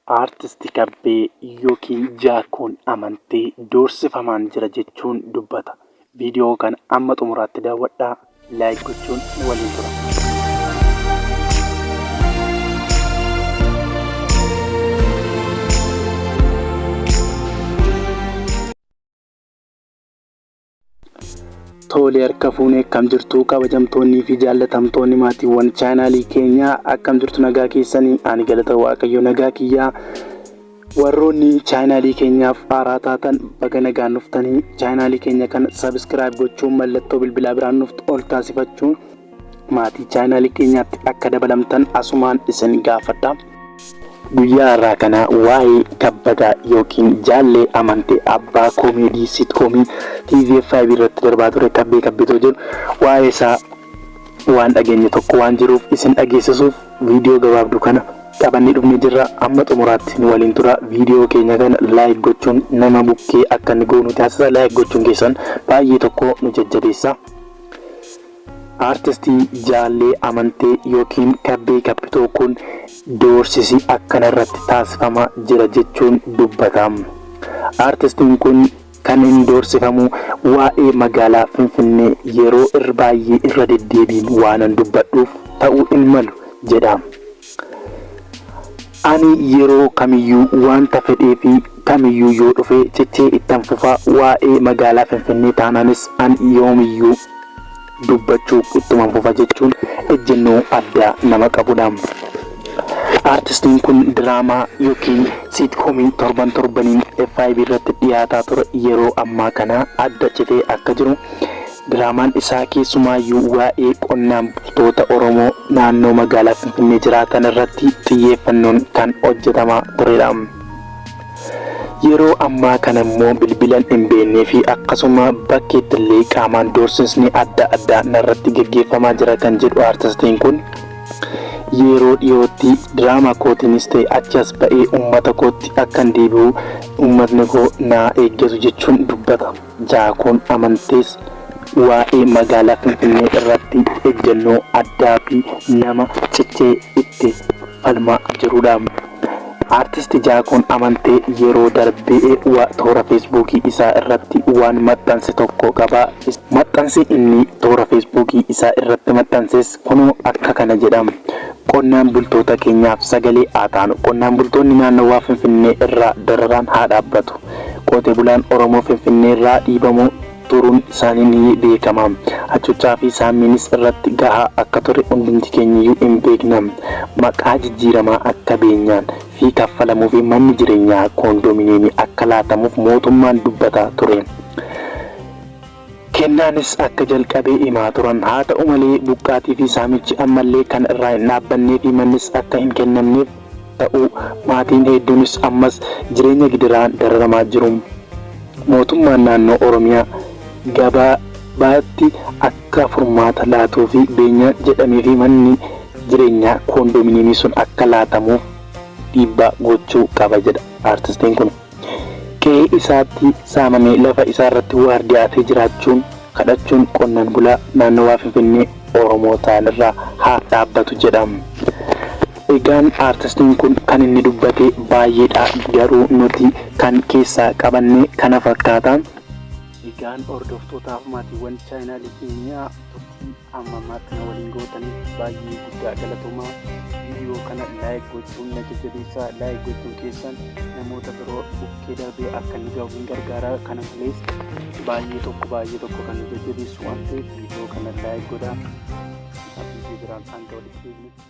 Artist Kabbee ykn Jaakkoon Amantee doorsifamaan jira jechuun dubbata. Viidiyoo kana amma xumuraatti daawwadhaa, like gochuun waliin tura. Toolee harka fuunee akkam jirtu kabajamtoonnii fi jaallatamtoonni maatiiwwan chaanaalii keenyaa akkam jirtu nagaa keessanii ani galata waaqayyo nagaa kiyyaa warroonni chaanaalii keenyaaf haaraa taatan baga nagaan dhuftanii chaanaalii keenya kana sabiskiraayib gochuun mallattoo bilbilaa biraan nuuf ol taasifachuun Maatii chaayinaalii keenyaatti akka dabalamtan asumaan isin gaafadha. Guyyaa irraa kana waa'ee kabbadaa yookiin jaallee amantee abbaa koomeedii siitkoomii TVFIB irratti darbaa ture kabbee kabbitoo jedhu waa'ee isaa waan dhageenye tokko waan jiruuf isin dhageessisuuf viidiyoo gabaabduu kana qabannee dhufnee jirra amma xumuraatti nu waliin tura viidiyoo keenya kana laayik gochuun nama bukkee akka inni goonu taasisa laayik gochuun keessan baay'ee tokko nu jajjabeessa. Artisti Jaallee Amantee ykn Kabbee Kabbitoo kun doorsisi akkana irratti taasifama jira jechuun dubbata. Artistiin kun kan inni doorsifamu waa'ee magaalaa Finfinnee yeroo irr baayyee irra deddeebiin waanan dubbadhuuf ta'uu hin malu jedha. Ani yeroo kamiyyuu waanta fedhee fi kamiyyuu yoo dhufe cichee ittan fufa, waa'ee magaalaa Finfinnee taanaanis an yoomiyyuu dubbachuu ittuman fufa jechuun ejjennoo addaa nama qabudha. Aartistiin kun diraamaa yookiin siitkoomii torban torbaniin FIB irratti dhiyaataa ture yeroo ammaa kana adda citee akka jiru Diraamaan isaa keessumaayyuu waa'ee qonnaan bultoota Oromoo naannoo magaalaa Finfinnee jiraatan irratti xiyyeeffannoon kan hojjetamaa turedha. Yeroo ammaa kana immoo bilbilan hin beeknee fi akkasuma bakkeetti illee qaamaan doorsisni adda addaa narratti gaggeeffamaa jira kan jedhu artistiin kun yeroo dhiyootti diraamaa kootiinis ta'e achi as ba'ee uummata kootti akkan deebi'u uummatni koo naa eeggatu jechuun dubbata. Jaakoon Amantees waa'ee magaalaa Finfinnee irratti ejjennoo addaa fi nama cichee itti falmaa jirudha. Artisti Jaakoon Amantee yeroo darbe wa- toora feesbuukii isaa irratti waan maxxanse tokko qaba. Is- Maxxansi inni toora feesbuukii isaa irratti maxxanses kunoo akka kana jedha. Qonnaan bultoota keenyaaf sagalee haa taanu. Qonnaan bultoonni naannawaa Finfinnee irraa dararaan haa dhaabbatu. Qote bulaan Oromoo Finfinneerraa dhiibamuu turuun isaanii ni beekama. Ajjechaa fi saammiinis irratti gahaa akka ture hundumti keenyayyuu in beekna. Maqaa jijjiiramaa akka beenyaan fi kaffalamuufi manni jireenyaa koondoomineemii akka laatamuuf mootummaan dubbataa ture. Kennaanis akka jalqabe himaa turan. Haata'u malee, buqqaatiifi saamichi ammallee kan irraa hin dhaabbanneefi mannis akka hin kennamneef ta'uu maatiin heedduunis ammas jireenya gidiraan dararamaa jiru. Mootummaan Naannoo Oromiyaa gabaabaatti akka furmaata laatuufi beenyaan jedhameefi manni jireenyaa koondominiimii sun akka laatamuuf dhiibbaa gochuu qaba jedha artistiin kun. Qe'ee isaatti saamamee lafa isaarratti waardiyaatee jiraachuun, kadhachuun qonnaan bulaa naannawaa Finfinnee Oromoo ta'an irraa haaf dhaabbatu jedha. Egaan artistiin kun kan inni dubbate baay'eedha garuu nuti kan keessaa qabanne kana fakkaata. Egaan hordoftootaaf maatiiwwan chaayinaalii keenyaa turtii. amma ammaatti na waliin gootaniif baay'ee guddaa galatoomaa viidiyoo kana laayik gochuun na jajjabeessaa laayik gochuun keessan namoota biroo bukkee darbee akka inni gahu hin gargaara kana malees baay'ee tokko baay'ee tokko kan nu jajjabeessu waan ta'eef viidiyoo kana laayik godhaa viidiyoo biraan hanga walitti deebinutti